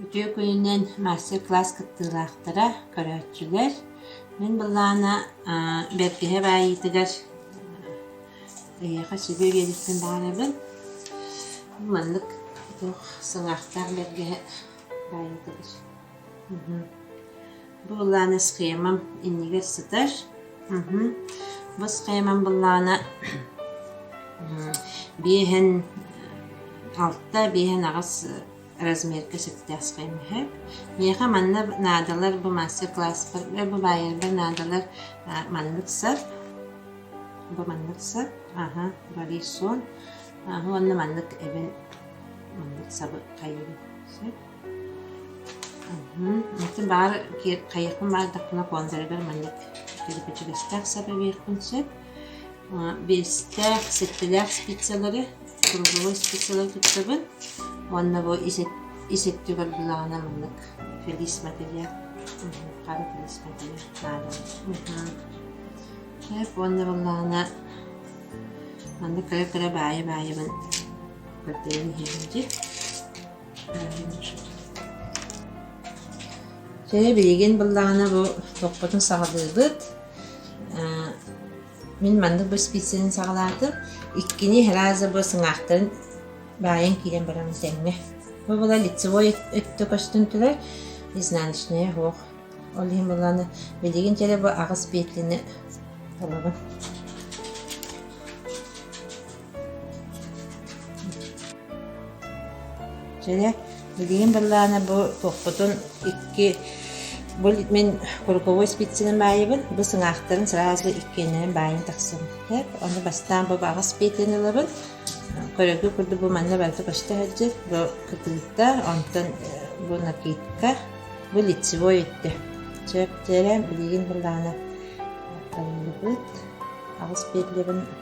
Үтүө күнүнэн мастер-класс кыттыылаахтара, көрөөччүлэр! Мин былаана бэргэһэ баайыытыгар эйиэхэ сүбэ биэриэхпин баҕарабын. Маннык туох сылаахтаах бэргэһэ баайыытыгар. Буллааны схемам иннигэр сытар. Мхм. Бу схемам буллаана биэһэн алта, биэһэн аҕыс размерга сөптөөх схема үһэ. Миэхэ манна наадалар бу мастер-класспар, бу баайарбар наадалар маннык сар. Бу маннык сар. Аха, валисон. Уонна маннык эбин маннык сабы хайыыбын. Атын баар хайыахпын баардахпына конторыгар маннык кэрэпэчигэстээх сап эбиэхпин сөп. Биэстээх, сэттэлээх спицалары, кругловой спицалары туттабын уонна бу ис өттүгэр булаҕына маннык флис мэтириэл, хара флис мэтириэл наада. Сөп уонна буоллаҕына маннык кыра-кыра баайы-баайыбын көрдөрөн иһэбин дии. Дьэ, билигин былаана бу топпотун саҕалыыбыт. Э, мин маннык бу спицинэн саҕалаатым. Иккини раза бу сыҥаахтарын баайан киирэн баран тэҥҥэ. Бу была лицевой өттө көстүн түрэ изнаночная ох. Ол иһин былааны билигин кэлэ бу аҕыс петлини талабын. Дьэ, билигин быһылаана бу куоппутун икки бу мин куруковой спицинэн баайабын, бу сыҥаахтарын сразу иккиэннэрин баайан тахсан. Эп, ону бастаан бу аҕыс пиэтин ылабын. Көрөгү курдук бу манна барыта көстө сылдьар. Бу кытыыта, онтон бу накидка, бу лицевой өттө. Сөп, тиэрэ, билигин быһылаана табыллыбыт. Аҕыс пиэтлэбин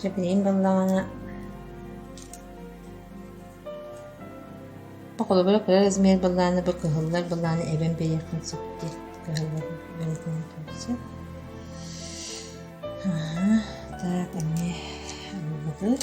Чэ, билигин бааллаҕына холобура кыра размер баллааны бу кыһыллар баллааны эбэн биэриэхпин сөп диэн кыһыллар бэлэтин турсан. Аха, так, эмиэ ылбыт.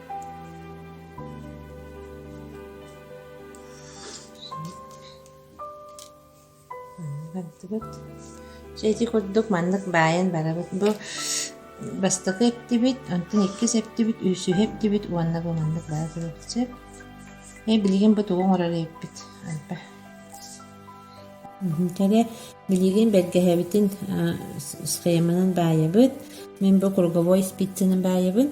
Чэ ити курдук маннык баайан барабыт. Бу бастакы эптибит, онтон иккис эптибит, үсүһэ эптибит уонна бу маннык баара турбут сөп. Э билигин бу тугу оҥорор эппит Альба. Кэрэ билигин бэргэһэбитин схеманан баайабыт. Мен бу круговой спицаны баайабын.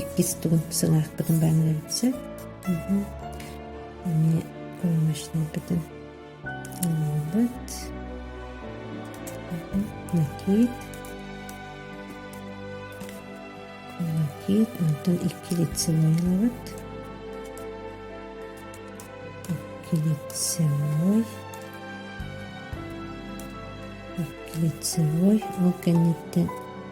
иккис тугун сыҥаахпытын бааннарбытсыт эмиэ уймашнайбытын ыллыбыт накиит накиит онтон икки лицевой ылабыт икки лицевой икки лицевой ол кэнниттэн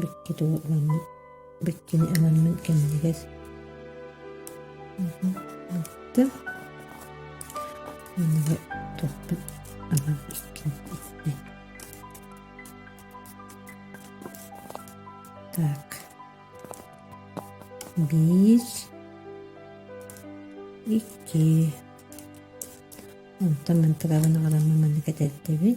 Биккитин ыламмыт биккини ыламмыт кэмигэр ыкты манныга тохпут алан иккин икти так биир икки онтон мантыгабын аҕаламмын маннык этэрдэбин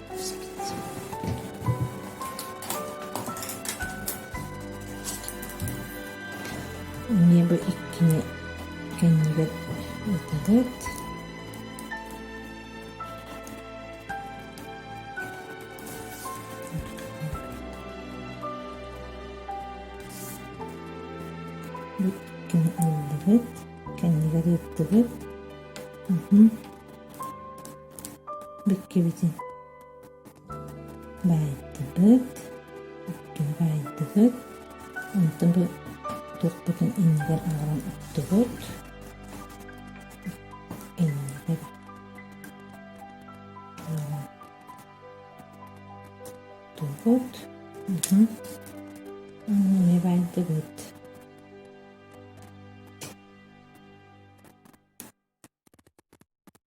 небо иккини кэннигэр ытарыт иккини ыллыгыт кэннигэр ыыттыгыт бүккэбитин баайдыбыт, өттүгү баайдыбыт, онтон бу туохпутун иннигэр аҕалан оттубут, иннигэр оттубут, эмиэ баайдыбыт.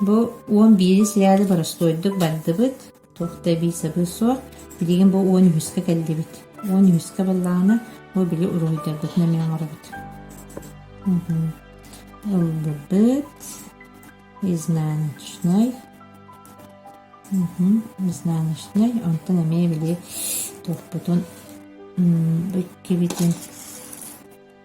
Бу уон биирис ряды боростуойдук бардыбыт, туох да эбии сабыы суох, билигин бу уон үһүскэ кэллибит. Уон үһүскэ буоллаҕына, бу били уруһуйдарбытын эмиэ оҥоробут. Ылбыт, изнаночной. Изнаночной, онтон эмиэ били туохпутун ыккибитин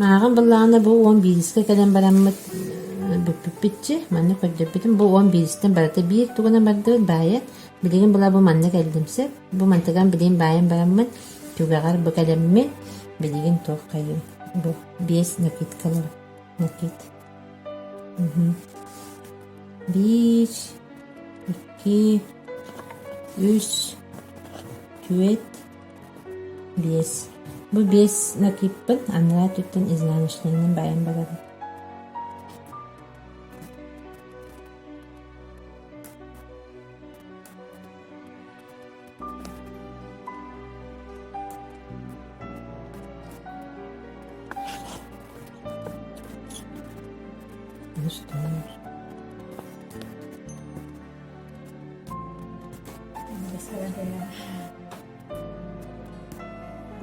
Мааҕын быллааҕына бу уон биирискэ кэлэн бараммыт бүппүппүтчү, маннык көрдөрбүтүм, бу уон биирискитин барыта биир тугунан бардыбыт баайан, билигин була бу манна кэллим сөп, бу мантыган билигин баайан бараммын түгэҕэр бу кэлэммин, билигин туоххайыай бу биэс накидкалара накид мм биир икки үс түөрт Биэс. Бу биэс накиппын анараа өттүттэн изнаночнайынан байан барарым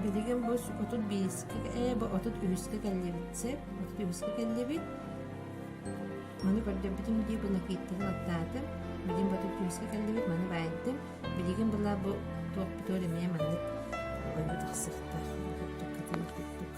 Билигин бу отут биэскэ ээ бу отут үһүскэ кэллибит сеп отут үһүскэ кэллибит маны көрдөрбүтүм дии бу накииттаны аттаатым билигин бу отут үһүскэ кэллибит маны баайдым билигин была бу туох бутуор эмиэ маннык ойго тахсыктар куттук катыма куттук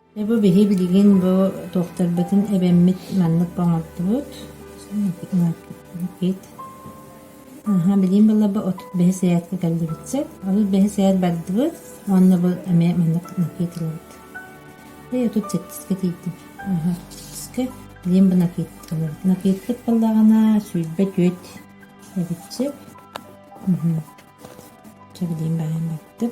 Бу биһи билигин бу туохтарбытын эбэммит маннык оҥордубут кит аха билигин былыргы отут бэһис эһээккэ кэллибит сир отут бэһис эһээт бардыбыт уонна бу эмиэ маннык накит ылабыт дьэ отут сэттискэ тиийдим аха сэттискэ билигин бу накит ылабыт накиткыт буоллаҕына сүүрбэ түөрт эбит сир билигин баайан бардым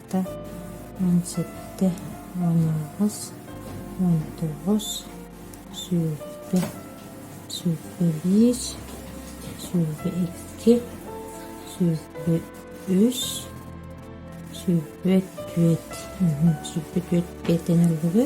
алта уон сэттэ уон аҕыс уон тоҕус сүүрбэ сүүрбэ биир сүүрбэ икки сүүрбэ үс сүүрбэ түөрт сүүрбэ түөрт бээтэнэллиги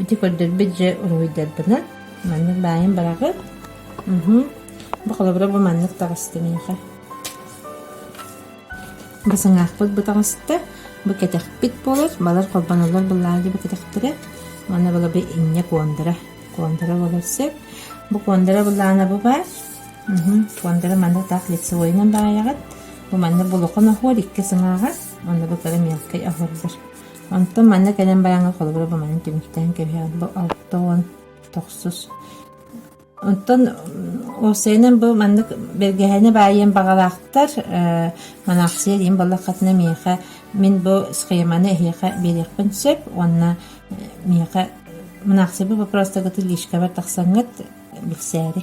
Ити көрдөрбүт дьэ уруһуйдарбынан маннык баайын быраҕыт. Уһу. Бу холобура бу маннык таҕыста миэхэ. Бу саҥаахпыт бу таҕыста. Бу кэтэхпит буолар. Балар холбонолор быллаалдьы бу кэтэхтэрэ. Манна былаби инньэ куондара. Куондара болар сөп. Бу куондара быллаана бу баар. Уһу. Куондара манна таах лицевойунан баайаҕыт. Бу манна булухан оһуор икки сыҥааҕа. Онно бу кыра мелкэй оһордор. Онтон манна кэлэн бараҥҥа холобура буманан түмүктээн кэбиһэҕин бу алта уон тохсус. Онтон уопсайынан бу маннык бэргэһэни баайыан баҕалаахтар э, анаахсыйа диэн буоллаххытына миэхэ мин бу схеманы эһиэхэ биэриэхпин сөп уонна э, миэхэ мынаахсыйа бу вопростаргыты лишкабар тахсаҥҥыт билсээри.